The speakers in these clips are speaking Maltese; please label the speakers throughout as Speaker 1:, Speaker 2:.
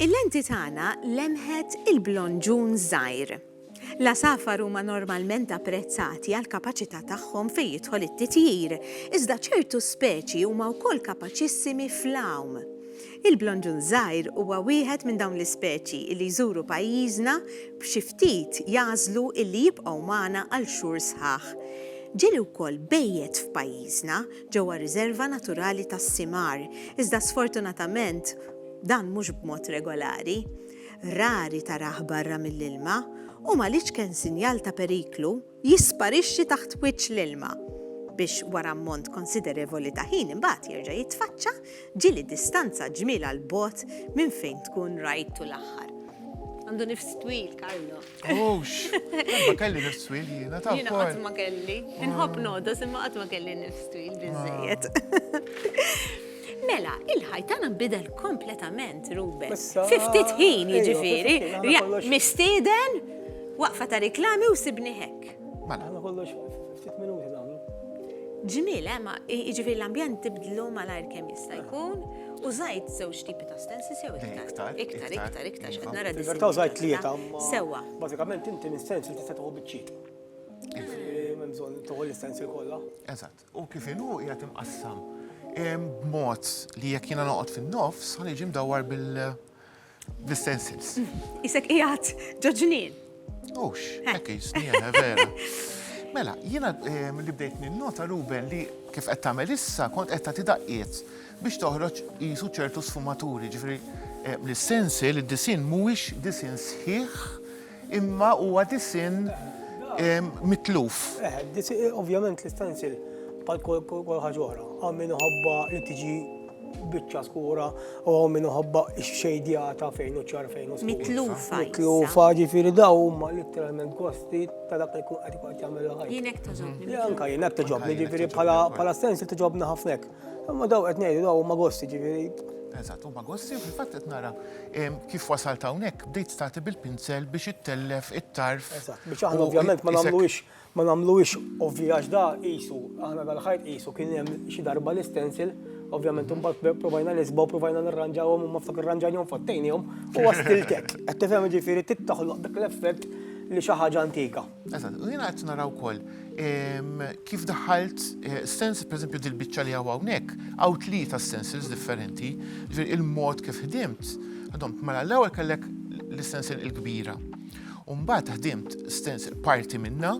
Speaker 1: Il-lenti tagħna lemħet il-blonġun żgħir. L-għasafar huma normalment apprezzati għal kapaċità tagħhom fejn jidħol it-titjir, iżda ċertu speċi huma wkoll kapaċissimi fl-għawm. Il-blonġun żgħir huwa wieħed minn dawn l-ispeċi li jżuru pajjiżna b'xi ftit jagħżlu li jibqgħu magħna għal xhur sħaħ. Ġieli wkoll bejjet f'pajjiżna ġewwa r-Riżerva Naturali tas-Simar, iżda sfortunatament dan mhux b'mod regolari. Rari tarah barra mill-ilma u m'għaliex kenn sinjal ta' periklu. jisparixxi taħt wiċċ l-ilma, biex wara ammont konsiderevoli ta' ħin imbagħad jerġa' jitfaċċa, ġieli distanza ġmielha 'l bogħod minn fejn tkun rajtu l-aħħar. Għandu nifs twil, Carlo. Ux!
Speaker 2: Ma kelli nifs twil jiena, ta' Jiena qatt ma kelli.
Speaker 1: Inħobb nodos imma qatt ma kelli nifs twil biżejjed. Mela, il-ħaj tagħna nbidel kompletament, Ruben. Fi ftit ħin jiġifieri, mistieden, waqfa ta' riklami u sibni hekk. Mela. Għamlu kollox
Speaker 3: ftit minuti nagħmlu. Ġmiel,
Speaker 1: eh, ma jiġifieri l-ambjent tibdlu malajr kemm jista' jkun. U zajt żewġ tipi ta' stensis jew iktar. Iktar, iktar, iktar, x'qed nara dis. Vertaw zajt tlieta.
Speaker 3: Sewwa. Bażikament
Speaker 1: inti
Speaker 3: l-istensil tista' tieħu biċċiet. Iva. Minn bżonn toħol l-istensil kollha. Eżatt. U kif
Speaker 2: inhu qiegħed imqassam b'mod li jekk jiena noqgħod fin-nofs ħa niġi mdawwar bil-stencils. Qisek qiegħed
Speaker 1: ġo ġnien. Hux, hekk
Speaker 2: qisni jiena vera. Mela, jiena li bdejt ninnota Ruben li kif qed tagħmel issa kont qed tagħti daqqiet biex toħroġ qisu ċertu sfumaturi, ġifieri l-istensil, id-disinn mhuwiex disinn sħiħ Imma huwa disinn mitluf.
Speaker 3: Ovvjament l-istanzil bħal kol ħaġa oħra, għam min ħobba li tiġi biċċa skura u għam min ħobba xejdjata fejn u ċar fejn u skura. Mitlufa. Mitlufa
Speaker 1: ġifiri
Speaker 3: daw huma literalment gosti ta' dak li kun qed ikun jagħmel ħajja. Jinek toġobni.
Speaker 1: Janka jinek toġobni
Speaker 3: ġifiri bħala stensil toġobni ħafnek. Imma daw qed ngħidu daw huma gosti ġifieri. Eżatt, huma gosti
Speaker 2: fil-fatt qed nara kif wasalt hawnhekk bdejt stati bil-pinsel biex ittellef it-tarf. Eżatt, biex aħna ovvjament
Speaker 3: ma nagħmluhiex ma nagħmluhiex ovvji għax da qisu aħna dal-ħajt qisu kien hemm xi darba l-istensil Ovvjament, un bat provajna nisba u provajna nirranġawhom u ma ftakar ranġajnihom fattejnihom u għastiltek. Qed tifhem ġifieri tittaħloq dak l-effett li xi ħaġa antika. Eżatt, u jiena qed
Speaker 2: nara wkoll ehm, kif daħalt eh, stencil, pereżempju dil-biċċa li hawn hawnhekk, hawn tlieta stencils differenti, ġifieri il-mod kif ħdimt, għadhom mela l-ewwel kellek l-stencil il-kbira. u mbagħad ħdimt stencil parti minna,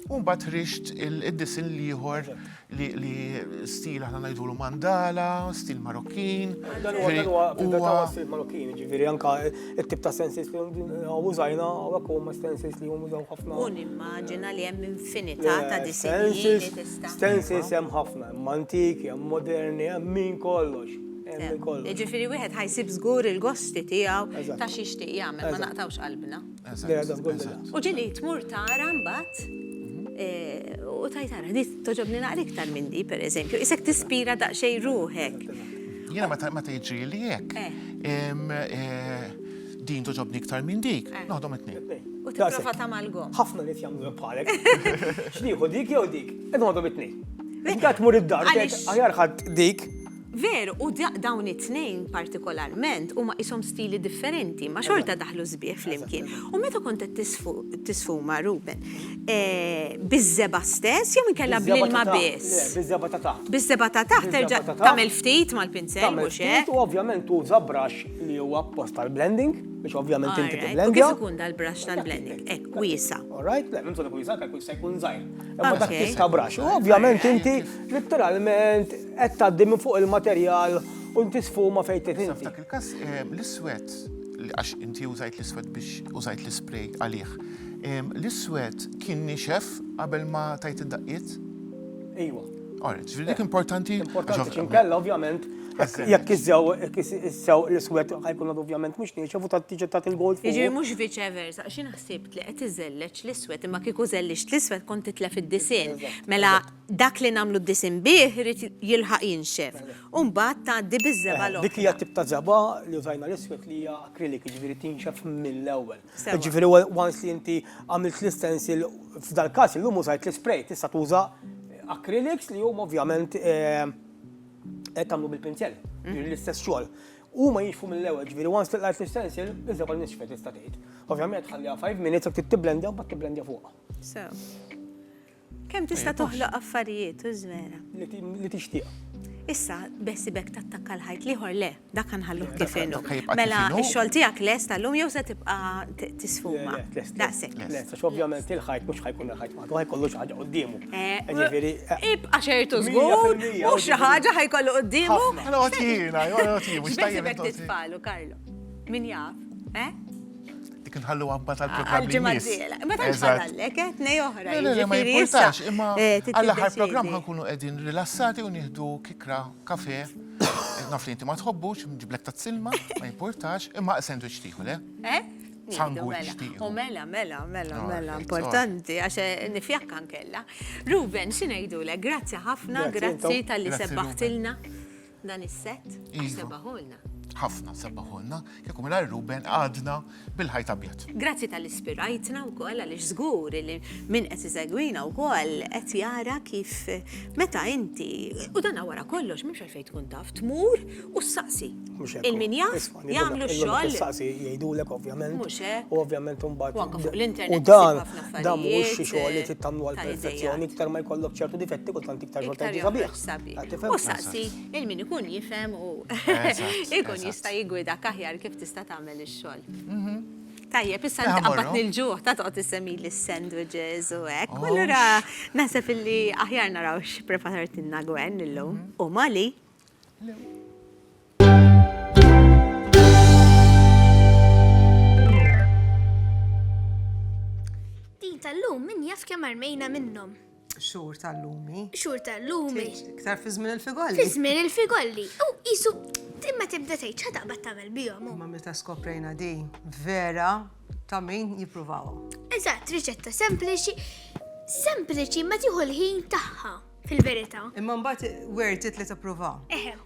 Speaker 2: u mbagħad rixt id-disin l-ieħor li stil aħna ngħidulu mandala, stil Marokkin. Dan huwa dan huwa
Speaker 3: fil-verità stil Marokkin, ġifieri anke t-tip ta' sensis li użajna hawnhekk huma sensis li huma użaw ħafna. U nimmaġina li
Speaker 1: hemm infinità ta' disinji li tista'. Sensis hemm ħafna,
Speaker 3: hemm antiki, hemm moderni, hemm min kollox. Jiġifieri
Speaker 1: wieħed ħajsib żgur il-gosti tiegħu ta' xi jixtieq jagħmel, ma naqtgħux qalbna. U ġili tmur tara mbagħad eh, u tajt ara, di toġobni naqra iktar minn di, per eżempju, isek tispira daqsxejn ruħek. Jiena
Speaker 2: ma tgħidx li jekk. Eh. Eh, din toġobni iktar minn dik, eh. noħdom it-tnejn. U tipprova tamalgom.
Speaker 1: Ħafna nit jagħmlu bħalek.
Speaker 3: X'nieħu dik jew dik? Qed noħdom it-tnejn. Dak mur id-dar, aħjar ħadd dik Veru, u
Speaker 1: dawn it-tnejn partikolarment huma qishom stili differenti, imma xorta daħlu sbieħ flimkien. U meta kont qed tisfuma, Ruben, biż-żebgħa stess jew inkella bl-ilma biss? Le, biż-żebgħa ta' taħt.
Speaker 3: Biż-żebgħa ta' taħt terġa'
Speaker 1: tagħmel ftit mal-pinzell, mhux hekk? Tagħmel ftit u ovvjament tuża
Speaker 3: brush li huwa apposta għall-blending, biex ovvjament inti tibblendja. U kif ikun dal-brush
Speaker 1: tal-blending? Hekk, wiesa'. All right, le, m'hemm bżonn ikun wiesa',
Speaker 3: jista' jkun żgħir. Imma dak tip ta' brush. U ovvjament inti litteralment. Qed tgħaddi minn fuq il-materjal u inti sfuma fejn trid inti. Dak il-każ eh,
Speaker 2: l-iswed għax inti użajt l-iswed biex użajt l-ispray għalih. Eh, l-iswed kien nixef qabel ma tajt id-daqqiet? Ejwa.
Speaker 3: Alright, ġifieri dik
Speaker 2: importanti. Importanti xinkella
Speaker 3: ovvjament jekk iżew issew l-iswed ħajkun ovvjament mhux nieċef u tiġi tat il-gold. Jiġri mhux viċe versa,
Speaker 1: xi naħsibt li qed iżelleġ l-iswed imma kieku żellix l-iswed kont titlef id-disinn. Mela Dak li nagħmlu d-disinn bih irid jilħaq jinxef u mbagħad tgħaddi biż-żebgħa l-oħra. Dik hija t-tip ta' żebgħa
Speaker 3: li użajna l-iswed li hija acrylic, jiġifieri tinxef mill-ewwel. Jiġifieri once li inti għamilt l-istencil, f'dal-każ illum użajt l-ispray, tista' tuża acrylics li huma ovvjament qed tagħmlu bil-pinzell, jiġifieri l-istess xogħol. Huma jinxfu mill-ewwel, jiġifieri once li qlajt l-istencil, iż-żebgħa nixfet tista' tgħid. Ovvjament tħalliha five minutes jekk trid tibblendja mbagħad tibblendja fuqha. Sew.
Speaker 1: Kemm tista' toħloq affarijiet, u żvera. Li tixtieq.
Speaker 3: Issa,
Speaker 1: beħsibek tattakka l-ħajt l-ieħor le, dak nħalluh kif inhu. Mela, ix-xogħol
Speaker 2: tiegħek
Speaker 1: lest
Speaker 2: tal-lum
Speaker 1: jew se tibqa' tisfuma? Daqshekk. Lest, għax ovvjament
Speaker 3: il-ħajt mhux ħajkun il-ħajt waħdu, ħajkollu xi ħaġa quddiemu.
Speaker 1: Ibqa' ċertu żgur, mhux xi ħaġa ħajkollu quddiemu. Ħafna. Għotjiena,
Speaker 2: għotjiena. X'beħsibek titfagħlu, Carlo?
Speaker 1: Min jaf, eh?
Speaker 2: dik nħalluha mbagħad għall-programm li jmiss. Ma tantx
Speaker 1: ħallallek, eh, tnej oħra. Le, le, ma jimpurtax,
Speaker 2: imma
Speaker 1: eh,
Speaker 2: għall-aħħar programm
Speaker 1: ħankunu
Speaker 2: qegħdin rilassati u nieħdu kikra kafe. Naf li inti ma tħobbux, ġiblek ta' silma, ma jimpurtax, imma sandwich tieħu, le? Eh? Sangu mela. U mela, mela, mela,
Speaker 1: ah, mela, importanti, għax eh, nifjakkan kella. Ruben, xinajdu le, grazzi ħafna, grazzi tal-li sebbaħtilna. Dan is-sett? Iva. Sebbaħulna. Ħafna
Speaker 2: sebbaħulna. Kieku mingħajr Ruben għadna bil-ħajt abjad. Grazzi tal ispirajtna
Speaker 1: wkoll għaliex żgur li min qed isegwina wkoll qed jara kif meta inti u dan wara kollox mhux għalfejn tkun taf tmur u ssaqsi. Il-min jaf jagħmlu x-xogħol. Ssaqsi jgħidulek
Speaker 3: ovvjament. Mhux hekk. U ovvjament
Speaker 1: imbagħad.
Speaker 3: Anke fuq l-internet. U
Speaker 1: dan dan
Speaker 3: mhux xi
Speaker 1: xogħol li
Speaker 3: tittamlu għall-perfezzjoni iktar ma
Speaker 1: jkollok
Speaker 3: ċertu difetti kultant iktar xogħol tajjeb sabiħ. sabi.
Speaker 1: U saqsi il-min ikun jifhem u ikun jista' jigwida kaħjar kif tista' tagħmel ix-xogħol. Mhm. Tajjeb, issa nitqabbat nil-ġuħ ta' toqgħod issemmi l-sandwiches u hekk. U allura naħseb illi aħjar naraw x'preparat inna Gwen illum mhm. u Mali.
Speaker 4: Din tal-lum min jaf kemm armejna minnhom. Xhur tal-lumi.
Speaker 5: Xhur tal-lumi.
Speaker 4: Iktar fi żmien
Speaker 5: il-figolli. Fi żmien il-figolli.
Speaker 4: U isu timma tibda tgħid xa taqbad tagħmel bihom. Ma meta skoprejna
Speaker 5: di vera ta' min jippruvaw. Eżatt, riċetta
Speaker 4: sempliċi, sempliċi ma tieħu l-ħin tagħha fil-verità. Imma mbagħad
Speaker 5: worth it li tipprova.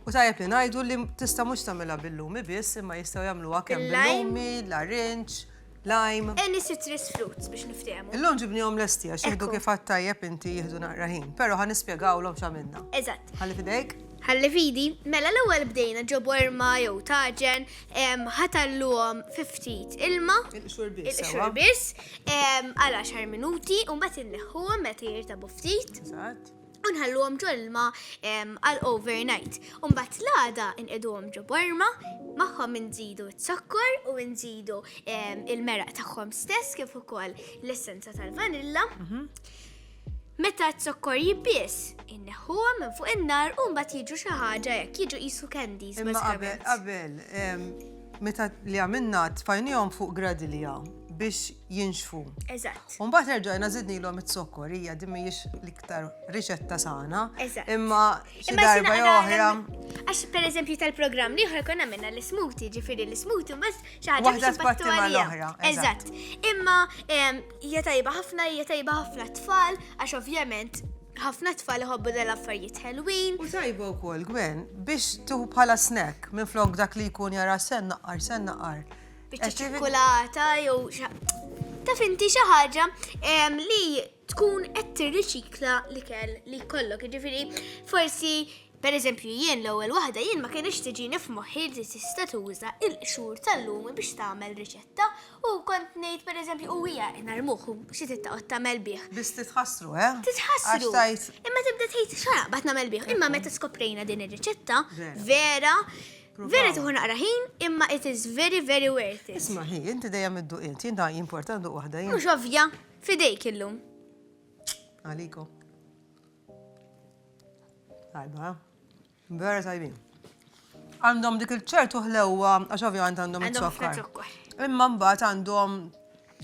Speaker 5: U tajjeb li
Speaker 4: ngħidu li
Speaker 5: tista' mhux tagħmilha bil-lumi biss, imma jistgħu jagħmluha kemm bil-lumi, l-arinċ, lime. Any citrus
Speaker 4: fruits biex niftehmu. Illum ġibnihom lesti għax
Speaker 5: jieħdu kif għad tajjeb inti jieħdu naqra ħin, però ħa nispjegawlhom x'għamilna. Eżatt. Ħalli fidejk. Ħalli fidi,
Speaker 4: mela l-ewwel bdejna ġo borma jew taġen, ħatalluhom fi ftit ilma. Il-qxur biss. Il-qxur
Speaker 5: biss,
Speaker 4: għal 10 minuti, u mbagħad inneħħuhom meta jirtabu ftit. Eżatt. u
Speaker 5: nħalluhom ġol
Speaker 4: ilma għal overnight. U mbagħad l-għada inqiduhom ġo borma, magħhom inżidu z-zokkor u nżidu il-meraq tagħhom stess kif ukoll l-essenza tal-vanilla. Mhm. Meta t-zokkor jibbis, inneħħuhom minn fuq in-nar u mbagħad jiġu xi ħaġa jekk jiġu qisu candies. Imma qabel, qabel,
Speaker 5: meta li għamilna tfajnihom fuq gradilja biex jinxfu. Eżatt. U mbagħad
Speaker 4: erġajna
Speaker 5: żidnilhom it-zokkor hija din mhijiex l-iktar riċetta sana. Eżatt. Imma
Speaker 4: xi Imma
Speaker 5: darba xi jew naqra- oħra. Għax per
Speaker 4: eżempju tal-programm liħor konna minna l-smuti, ġifiri l-smuti, mbaz xaħġa Waħda biex tbatti nbattu għalija. mal-oħra,
Speaker 5: Eżatt. Imma
Speaker 4: em, hija tajba ħafna, hija tajba ħafna tfal, għax ovvjament ħafna tfal iħobbu dal-affarijiet ħelwin. U tajba u kol,
Speaker 5: Gwen, biex tuħu bħala snack minn flok dak li jkun jara sen naqar, sen naqar. Biċċa
Speaker 4: ċirkulata jew taf inti xi ħaġa li tkun qed tirriċikla l-ikel li jkollok. Ġifieri forsi per eżempju jien l-ewwel waħda jien ma kienx tiġi nifmoħħi li tista' tuża il-qxur tal-lum biex tagħmel riċetta u kont ngħid per eżempju u hija narmuh xi titqgħod tagħmel bih. Biss titħassru, eh?
Speaker 5: Titħassru.
Speaker 4: Imma
Speaker 5: tibda tgħid xaraq
Speaker 4: bad nagħmel bih. Imma meta skoprejna din ir-riċetta vera
Speaker 5: Vera tieħu
Speaker 4: naqra ħin, imma it is very very worth it. Isma' hi, inti dejjem
Speaker 5: idduq int, jien ta' jimporta nduq waħda jien. Mhux ovvja, fidejk
Speaker 4: illum.
Speaker 5: Għaliku. Tajba, vera tajbin. Għandhom dik il-ċertu ħlewwa, għax ovvjament għandhom Għandhom ħafna it-zokkar. zokkor.
Speaker 4: Imma
Speaker 5: mbagħad
Speaker 4: għandhom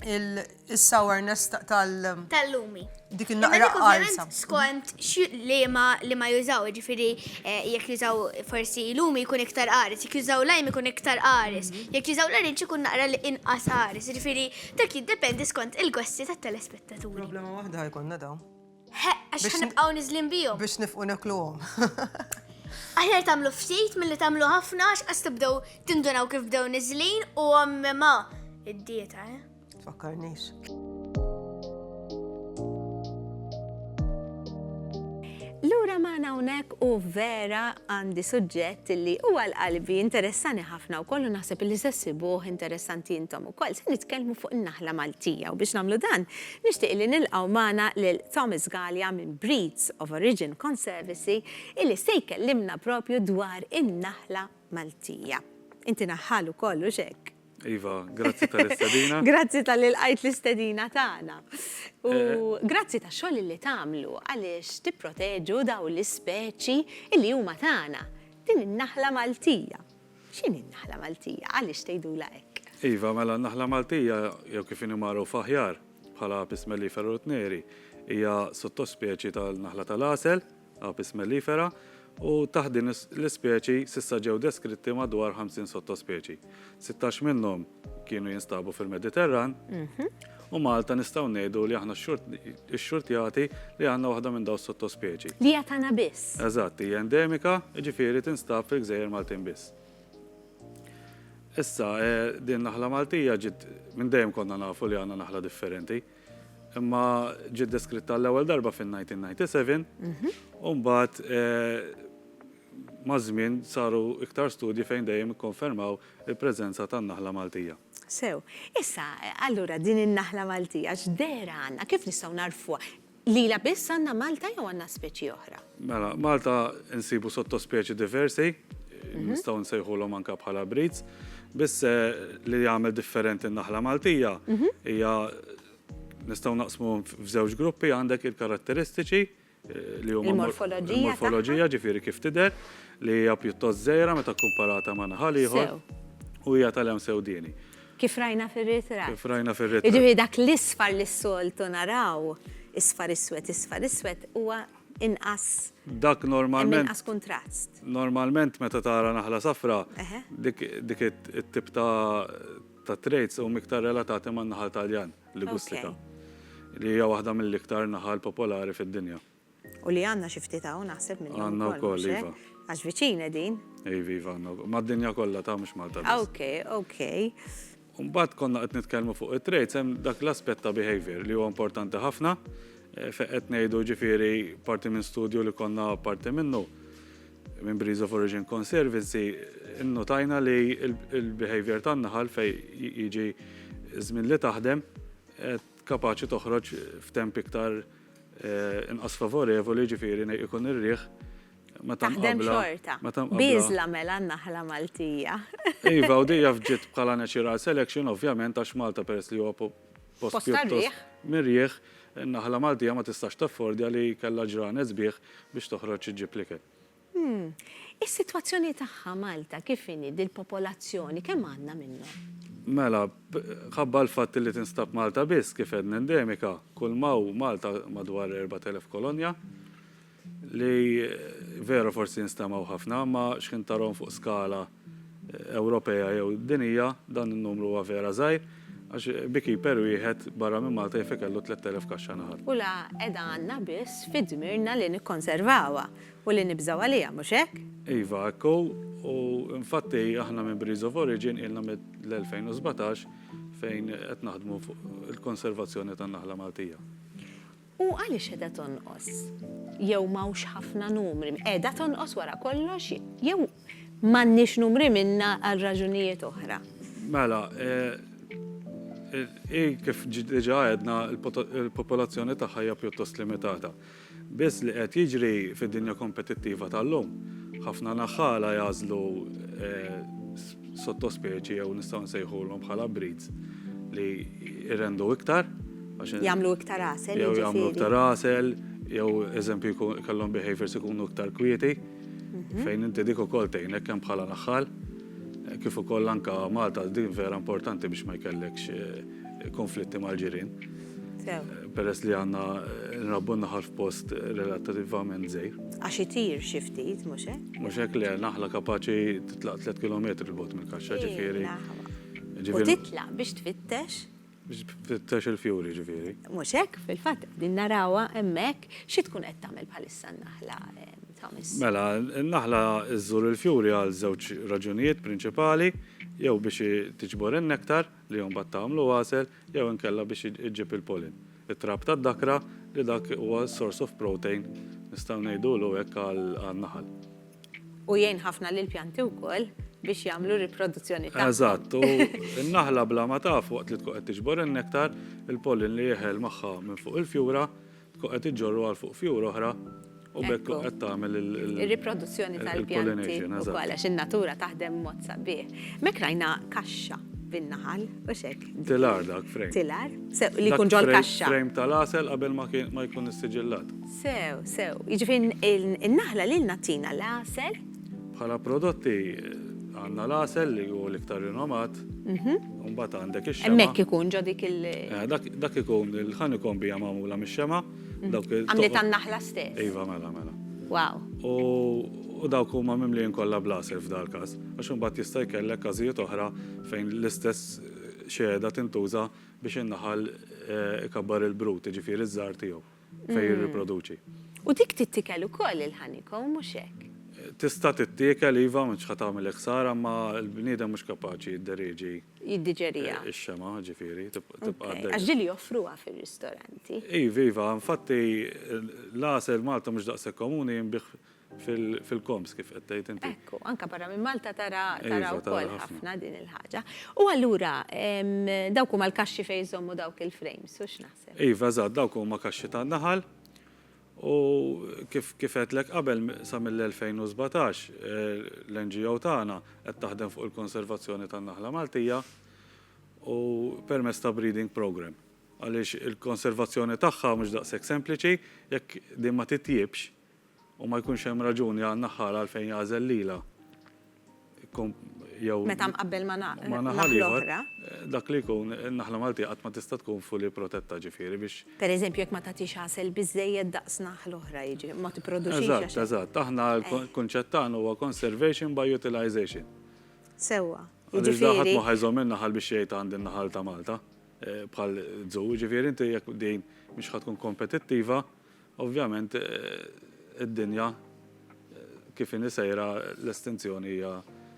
Speaker 5: il-sourness tal- Tal-lumi.
Speaker 4: Dik il-naqra
Speaker 5: għalsa. Skont
Speaker 4: li ma li ma jużaw, ġifiri, eh, jek jużaw forsi lumi jkun iktar għaris, jek jużaw lajm jkun iktar għaris, mhm. jek jużaw l-arinċ jkun naqra li inqas għaris, ġifiri, dak jiddependi skont il-gossi tat telespettaturi. Problema wahda ħajkonna
Speaker 5: daw. Għax
Speaker 4: ħanibqaw nizlin bijom. Biex nifqu nekluhom. Aħjar tamlu ftit mill-li tamlu ħafna għax għas tibdew tindunaw kif bdew nizlin u għammema id-dieta, eh? Fakkarnix.
Speaker 1: Lura ma hawnhekk u vera għandi suġġett li huwa l-qalbi interessani ħafna u kollu naħseb li se sibuh interessanti intom ukoll se nitkellmu fuq in-naħla Maltija u biex nagħmlu dan Nixtieq li nilqgħu magħna lil Thomas Galea minn Breeds of Origin Conservacy illi se jkellimna propju dwar in-naħla Maltija. Inti naħħal ukoll, hux hekk? Iva,
Speaker 6: grazzi tal-istedina. Grazzi talli lqajt
Speaker 1: l-istedina tagħna. U grazzi tax-xogħol illi tagħmlu għaliex tipproteġu dawn l-ispeċi illi huma tagħna, din in-naħla Maltija. X'inhi n-naħla Maltija? Għaliex tgħidulha hekk? Iva, mela n-naħla
Speaker 6: Maltija, jew kif inhi magħrufa aħjar bħala Apis mellifera rottneri, hija sottospeċi tal-naħla tal-għasel, Apis mellifera, u taħt din l-ispeċi s'issa ġew deskritti madwar 50 sottospeċi. Sittax minnhom kienu jinstabu fil-Mediterran, mhm. u Malta nistgħu ngħidu li aħna x-xurtjati li għandna waħda minn daw sottospeċi. Li qed għandna biss.
Speaker 1: Eżatt, hija endemika,
Speaker 6: ġifieri tinstab fil-gżejjer Maltin biss. Issa, eh, din naħla Maltija ġid minn dejjem konna nafu li għandna naħla differenti. Imma ġid deskritta l-ewwel darba fin-1997, mhm. u mbagħad eh, Maż-żmien saru iktar studji fejn dejjem ikkonfermaw il-preżenza tan-naħla Maltija. Sew.
Speaker 1: Issa, allura, din in-naħla Maltija x'dehra għandna? Kif nistgħu nagħrfuha? Lilha biss għandna Malta jew għandna speċi oħra? Mela, Malta
Speaker 6: nsibu sottospeċi diversi, nistgħu nsejħulhom anke bħala breeds, biss li jagħmel differenti n-naħla Maltija hija nistgħu naqsmuhom f'żewġ gruppi, għandek il-karatteristiċi, li huma morfoloġija ġifieri kif tidher li hija pjuttost żgħira meta kkumparata ma' naħal ieħor u hija tal-għem sewdieni. Kif rajna
Speaker 1: fir-ritratt. Kif rajna fir-ritratt. Jiġifieri
Speaker 6: dak l-isfar
Speaker 1: li s-soltu naraw, isfar iswed, isfar iswed huwa inqas. Dak
Speaker 6: normalment. Inqas kuntrast.
Speaker 1: Normalment meta
Speaker 6: tara naħla safra, dik it-tip ta' traits huma iktar relatati man-naħal Taljan. Ligustika, li hija waħda mill-iktar naħal popolari fid-dinja. U li għandna
Speaker 1: xi ftit hawn naħseb minnhom ukoll. Għandna wkoll, iva.
Speaker 6: Għax viċin qegħdin.
Speaker 1: Iva, iva għandna wkoll.
Speaker 6: Mad-dinja kollha ta' mhux Malta biss. Okej, okej.
Speaker 1: Mbagħad
Speaker 6: konna qed nitkellmu fuq it-traits hemm dak l-aspett ta' behavior li huwa importanti ħafna fejn qed ngħidu ġifieri parti minn studju li konna parti minnu Minn Breeze of Origin Conservancy nnotajna li l-behavior tan-naħal fejn jiġi ż-żmien li taħdem kapaċi toħroġ f'temp iktar inqas favorevoli, jiġifieri ikun ir-riħ meta nqabbla.
Speaker 1: Taħdem xorta. Bieżla mela n-naħla Maltija. Iva, u dejja
Speaker 6: fġiet bħala natural selection ovvjament għax Malta peress li huwa post pjuttost mirjieħ, in-naħla Maltija ma tistax taffordja li jkollha ġranet sbieħ biex toħroġ iġġib l-ikel. Is-sitwazzjoni
Speaker 1: tagħha Malta kif inhi, dil-popolazzjoni kemm għandna minnhom? Mela,
Speaker 6: mħabba l-fatt li tinstab Malta biss, kif għedna endemika, kulma hu Malta madwar 4,000 kolonja, li veru forsi jinstemgħu ħafna, imma x'ħin tarahom fuq skala Ewropea jew dinjija, dan in-numru huwa vera żgħir, għax beekeeper wieħed barra minn Malta jaf ikellu tlett elef kaxxa naħal. U la qiegħda għandna
Speaker 1: biss fi dmirna li nikkonservawha u li nibżgħu għaliha, mhux hekk? Iva, hekk hu,
Speaker 6: u infatti aħna minn Breeze of Origin ilna mill-2017 fejn qed naħdmu fuq il-konservazzjoni tan-naħla Maltija. U
Speaker 1: għaliex qiegħda tonqos? Jew m'hawnx ħafna numri? Qiegħda tonqos wara kollox jew m'għandniex numri minnha għal raġunijiet oħra? Mela,
Speaker 6: hi kif diġà għedna, il-popolazzjoni tagħha hija pjuttost limitata. Biss li qed jiġri fid-dinja kompetittiva tal-lum, ħafna naħħala jagħżlu sottospeċi jew nistgħu nsejħulhom bħala breeds li jrendu iktar għax Jagħmlu iktar
Speaker 1: għasel, jew jagħmlu jiġifieri. iktar
Speaker 6: għasel, jew eżempju jkun kellhom behaviors ikunu iktar kwieti, fejn inti dik ukoll tgħinek kemm bħala naħħal, kif ukoll anke Malta din vera importanti biex ma jkellekx konflitti mal-ġirien. Sew. Peress li għandna nrabbu n-naħal f'post relattivament żgħir. Għax itir xi
Speaker 1: ftit, mhux hekk? Mhux hekk, le, naħla
Speaker 6: kapaċi titlaq tliet kilometri 'l bogħod mill-kaxxa, ġifieri.
Speaker 1: U titlaq biex tfittex? Biex tfittex
Speaker 6: il-fjuri, ġifieri. Mhux hekk, fil-fatt,
Speaker 1: qegħdin narawha hemmhekk. Xi tkun qed tagħmel bħalissa n-naħla, Thomas? Mela,
Speaker 6: n-naħla żżur il-fjuri għal żewġ raġunijiet prinċipali, jew biex tiġbor in-nektar, li mbagħad tagħmlu għasel jew inkella biex iġġib il-pollen. It-trab tad-dakra li dak huwa source of protein nistgħu ngħidulu hekk għan-naħal. U
Speaker 1: jgħin ħafna lill-pjanti wkoll biex jagħmlu r-riproduzzjoni tagħhom. Eżatt, u
Speaker 6: n-naħla bla ma taf waqt li tkun qed tiġbor in-nektar, il-pollen li jeħel magħha minn fuq il-fjura, Tkun qed iġġorru għal fuq fjur oħra u b'hekk tkun qed tagħmel il-. Ir-riproduzzjoni
Speaker 1: tal-pjanti wkoll għax
Speaker 6: in-natura taħdem
Speaker 1: b'mod sabiħ. M'hekk rajna kaxxa bin-naħal, hux hekk? Tilar dak, frame.
Speaker 6: Tilar, sew, li jkun
Speaker 1: ġol-kaxxa. Frame tal-għasel qabel
Speaker 6: ma jkun issiġillat. Sew, sew.
Speaker 1: Jiġifieri n-naħla lilna ttina l-għasel. Bħala prodotti
Speaker 6: għandna l-għasel li hu l-iktar rinomat, u mbagħad għandek ix-xemgħa. Hemmhekk ikun ġo dik il-
Speaker 1: Dak ikun
Speaker 6: il-honeycomb hija magħmula mix-xemgħa. Għamliet
Speaker 1: tan-naħla stess? Iva, mela, mela.
Speaker 6: Wow! U dawk huma mimlijin kollha bl-għasel f'dal-każ, għax imbagħad jista' jkellek każijiet oħra fejn l-istess xehda tintuża biex in-naħal ikabbar il-brut, jiġifieri ż-żgħar tiegħu. fejn jirriproduċi. U dik tittikel
Speaker 1: ukoll il-honeycomb, mhux hekk? Tista'
Speaker 6: tittiekel, iva, m'intx ħa tagħmilek ħsara, imma l-bniedem mhux kapaċi jidderieġi. Jiddiġeriha.
Speaker 1: Ix-xemgħa, ġifieri,
Speaker 6: tibqa' għaddejja. Għax din li joffruha
Speaker 1: fir-ristoranti. Iva, iva,
Speaker 6: infatti l-għasel Malta mhux daqshekk komuni jinbiegħ fil-koms kif qed tgħid inti. Ekku, anke barra minn Malta
Speaker 1: tara iva, wkoll ħafna
Speaker 6: din il-ħaġa.
Speaker 1: U allura dawk huma l-kaxxi fejn jżommu dawk il-frames, u x'naħseb? Iva, eżatt, dawk huma
Speaker 6: kaxxi tan-naħal u kif għedtlek qabel sa mill-2017 l-NGO tagħna qed taħdem fuq il-konservazzjoni tan-naħla Maltija u permezz ta' breeding program. Għaliex il-konservazzjoni tagħha mhux daqshekk sempliċi jekk din ma titjiebx u ma jkunx hemm raġuni għal naħħar għalfejn jagħżel lilha
Speaker 1: jew Meta mqabbel ma' ma' naħal naħal ieħor, oħra.
Speaker 6: dak li
Speaker 1: jkun,
Speaker 6: in-naħla Maltija qatt ma tista' tkun fully protetta, ġifieri biex Pereżempju jekk ma tagħtix
Speaker 1: għasel biżżejjed daqs naħal oħra, jiġifieri ma tipproduċix Eżatt, għax eżatt. Aħna
Speaker 6: l-kunċett tagħna huwa conservation by utilisation. Sewwa.
Speaker 1: Għaliex da ħadd ma
Speaker 6: Jiġifieri ħa jżomm in-naħal biex jgħid għandi n-naħal ta' Malta, bħal zoo, jiġifieri inti jekk din mhix ħa tkun kompetittiva, Ovvjament id-dinja kif inhi sejra l-estinzjoni hija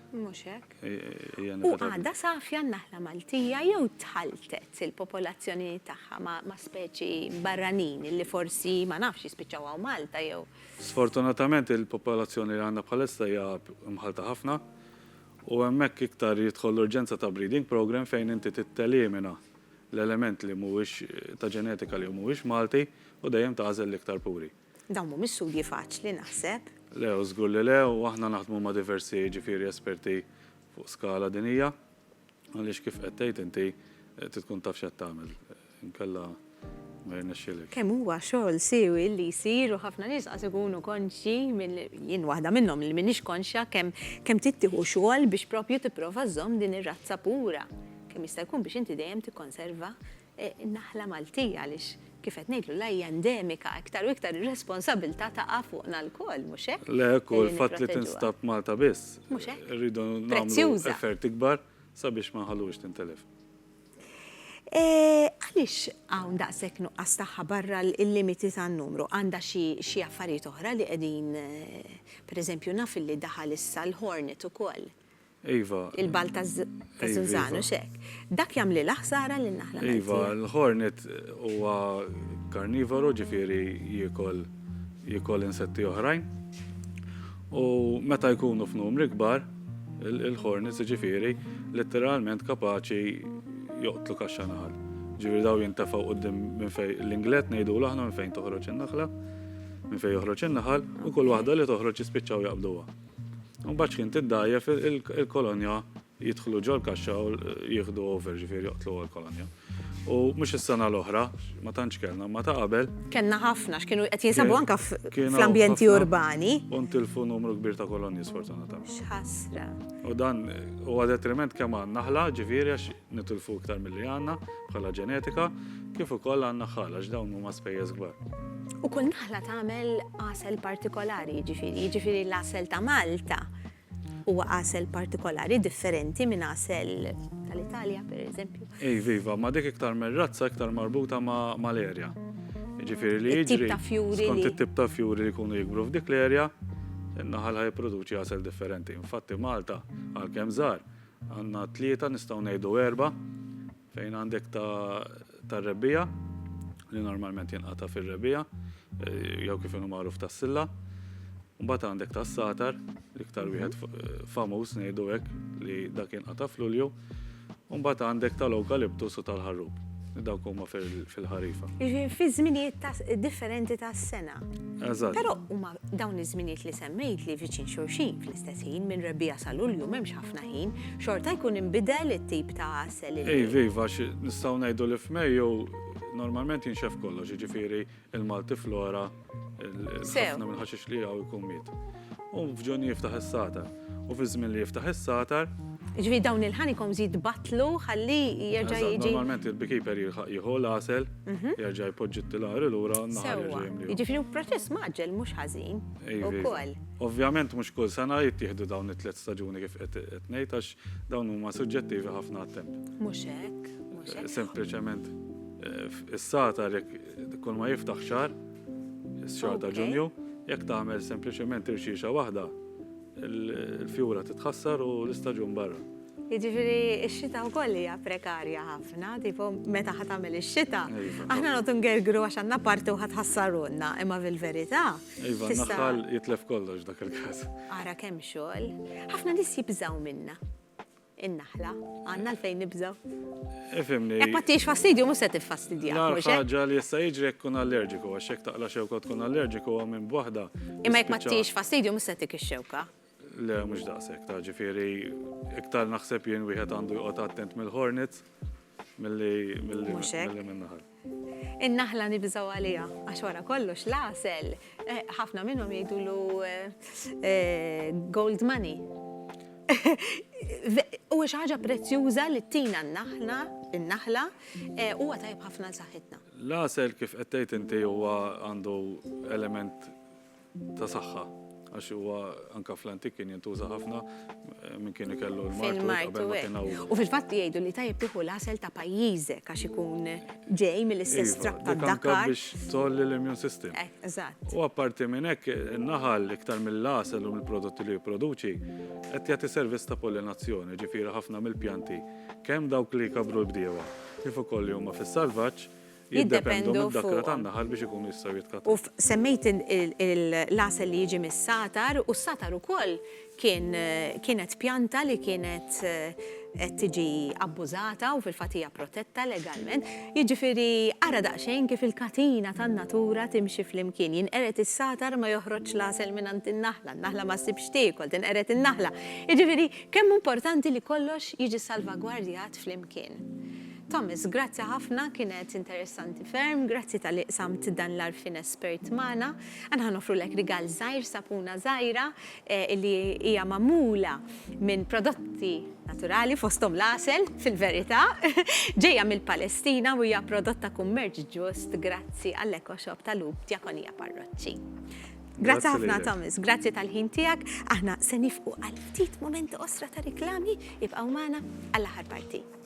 Speaker 6: Mhux hekk.
Speaker 1: hija U inevitabbli.
Speaker 6: għadha safja n-naħla
Speaker 1: Maltija jew tħalltet il-popolazzjoni tagħha ma' ma' speċi barranin illi forsi, ma nafx, jispiċċaw hawn Malta jew. Sfortunatament
Speaker 6: il-popolazzjoni li għandna bħalissa hija mħallta ħafna u hemmhekk iktar jidħol l-urġenza ta' breeding programme fejn inti trid telimina l-element li mhuwiex ta' ġenetika li hu mhuwiex Malti u dejjem tagħżel l-iktar puri. Dawn mhumiex studji
Speaker 1: faċli naħseb. Le, u żgur li le,
Speaker 6: u aħna naħdmu ma' diversi jiġifieri esperti fuq skala dinija għaliex kif qed tgħid inti trid tkun taf x'qed tagħmel inkella ma jirnexxilekx. Kemm huwa xogħol
Speaker 1: siewi li jsir u ħafna nies qas ikunu konxji minn, jien waħda minnhom li m'iniex konxja kemm kemm trid tieħu xogħol biex proprju tipprova żżomm din ir-razza pura. kemm jista' jkun biex inti dejjem tikkonserva n-naħla Maltija għaliex kif qed ngħidlu la hija endemika, iktar u iktar ir-responsabbiltà taqa' fuqna lkoll, mhux hekk? Le hekk hu, il-fatt li
Speaker 6: tinstab Malta biss, irridu
Speaker 1: nagħmlu
Speaker 6: effort ikbar sabiex ma nħalluhiex tintilef.
Speaker 1: Għaliex hawn daqshekk nuqqas tagħha barra l-limiti tan-numru? Għandha xi affarijiet oħra li qegħdin, pereżempju naf li daħal issa l-Hornet ukoll. Iva.
Speaker 6: Il-balt
Speaker 1: taż-żunżan u x'hekk. Dak jagħmlilha ħsara lin-naħla Maltija. Iva, l-ħornet
Speaker 6: huwa karnivoru, ġifieri jiekol jiekol insetti oħrajn. U meta jkunu f'numri kbar, il-ħornet jiġifieri litteralment kapaċi joqtlu kaxxa naħal. Ġifieri dawn jintefgħu quddiem minn fejn l-Inglett ngħidulu aħna minn fejn toħroġ in-naħla, minn fejn joħroġ in-naħal, u kull waħda li toħroġ jispiċċaw jaqbduha. Mbagħad kien tiddajjef il-kolonja jidħlu ġol kaxxa u jieħdu over ġifieri joqtlu għal kolonja. U mhux is-sena l-oħra, ma tantx kellna, ma ta' qabel. Kellna ħafna x'kienu
Speaker 1: qed jinsabu anke fl-ambjenti
Speaker 6: urbani.
Speaker 1: U
Speaker 6: ntilfu
Speaker 1: numru
Speaker 6: kbir ta' kolonji sfortunatament. X'ħasra.
Speaker 1: U dan
Speaker 6: huwa detriment kemm għan-naħla ġifieri għax nitilfu iktar milli għandna bħala ġenetika, kif ukoll għan-naħħal għax dawn huma spejjeż kbar. U kull naħla
Speaker 1: tagħmel għasel partikolari, jiġifieri, jiġifieri l-għasel ta' Malta huwa għasel partikolari differenti minn għasel tal-Italja, per eżempju. Ej, viva, ma dik
Speaker 6: iktar mir-razza iktar marbuta ma' l-erja. Jiġifieri li jiġri. Skont
Speaker 1: it-tip
Speaker 6: ta'
Speaker 1: fjuri
Speaker 6: li jkunu jikbru f'dik l-erja, in-naħal ħaj produċi għasel differenti. Infatti Malta, għalkemm żgħar, Għandna tlieta, nistgħu ngħidu erba', fejn għandek tar-Rebbiegħa li normalment jinqata' fir-Rebbiegħa jew kif inhu magħruf tas-Silla. Mbagħad għandek tas-Satar, l-iktar wieħed famuż ngħidu hekk li dak jinqata' f'Lulju. U mbagħad għandek tal-Ewkaliptus u tal-Ħarrub. Dawk huma fil-ħarifa. Jiġifieri fi żminijiet
Speaker 1: differenti tas-sena. Eżatt. Però
Speaker 6: huma
Speaker 1: dawn iż-żminijiet li semmejtli viċin xulxin fl-istess ħin minn Rebbiegħa sa Lulju m'hemmx ħafna ħin, xorta jkun inbidel it-tip ta' għasel li. Iv, iv, għax
Speaker 6: nistgħu ngħidu li f'Mejju normalment jinxef kollox, jiġifieri il-Malti flora, ħafna minn ħaxix li għaw jkun miet. U f'ġun jiftaħ is-satar. U fi żmien li jiftaħ is-satar. Ġifieri dawn
Speaker 1: il-ħanikom żid batlu ħalli jerġa' jiġi. Normalment il-bikiper
Speaker 6: jieħu l-għasel, mhm. jerġa' jpoġġi t-tilari lura, naħar jerġa' jimli. Jiġifieri proċess maġġel
Speaker 1: mhux ħażin. Ukoll. Ovvjament mhux
Speaker 6: kull sena jittieħdu dawn it-tliet staġuni kif qed ngħid għax dawn huma suġġettivi ħafna għat-temp. Mhux hekk, mhux hekk.
Speaker 1: Sempliċement
Speaker 6: is-satar jekk kull ma jiftaħ xahar, is-xahar ta' Ġunju, jekk tagħmel sempliċement irxixa waħda, il-fjura titħassar u l-istaġun barra. Jiġifieri
Speaker 1: x-xita wkoll hija prekarja ħafna, tipo meta ħadd tagħmel ix-xita, aħna noqgħod ngergru għax għandna parti u ħadd ħassarulna, imma fil-verità Iva, naħal
Speaker 6: jitlef kollox dak il-kas. Ara kemm xogħol.
Speaker 1: Ħafna nis jibżaw minna. In-naħla, għanna l-fejn nibżaw. Ifimni. Jek
Speaker 6: ma tiex fastidju,
Speaker 1: mus se tiffastidja. Ħaġa li jessa
Speaker 6: jiġri jek kun allerġiku, għax jek taqla xewka tkun allerġiku għam minn bwaħda. Imma jek ma tiex
Speaker 1: fastidju, mus se tik xewka Le, mhux
Speaker 6: daqshekk, ta' ġifieri iktar naħseb jien wieħed għandu joqgħod attent mill-hornets milli min-naħal. In-naħla
Speaker 1: nibżgħu għaliha għax wara kollox l-għasel eh, ħafna minnhom jgħidulu eh, gold money. U xi ħaġa prezzjuża li tina n-naħla, in-naħla, eh, huwa tajb ħafna l saħħitna. L-għasel kif qed
Speaker 6: tgħid inti huwa għandu element ta' saħħa għax huwa anka fl-antik kien jintuża ħafna eh, minn kien ikellu l-martu U fil-fatt jgħidu
Speaker 1: li tajjeb tieħu l-asel ta' pajjiżek għax ikun ġej mill-istess iva, trab ta' dakar. biex tolli
Speaker 6: l-immune system. Eh, eżatt. U apparti
Speaker 1: minn hekk
Speaker 6: naħal iktar mill-asel u mill-prodotti li jipproduċi qed jagħti servizz ta' pollinazzjoni, ġifieri ħafna mill-pjanti kemm dawk li kabru l-bdiewa kif ukoll li huma fis-salvaġġ jiddependu fuqhom. U semmejt
Speaker 1: il-għasel li jiġi mis-satar u s-satar ukoll kien kienet pjanta li kienet qed tiġi abbużata u fil-fatt hija protetta legalment. Jiġifieri ara daqsxejn kif il-katina tan-natura timxi flimkien. Jinqered is-satar ma joħroġx l-għasel mingħand in-naħla, n-naħla ma ssib x'tiekol, tinqered in-naħla. Jiġifieri kemm hu importanti li kollox jiġi salvagwardjat flimkien. Thomas, grazzi ħafna, kienet interessanti ferm, grazzi talli qsamt dan l-għarfien espert magħna. Aħna ħa noffrulek rigal żgħir, sapuna żgħira li hija magħmula minn prodotti naturali fosthom l-għasel, fil-verità, ġejja mill-Palestina u hija prodott ta' kummerċ ġust grazzi għall-EcoShop ta' Lhub Djakonija Parroċċi. Grazzi ħafna Thomas, grazzi tal-ħin tiegħek, aħna se nifqu għal ftit momenti qosra ta' riklami, ibqgħu magħna għall-aħħar parti.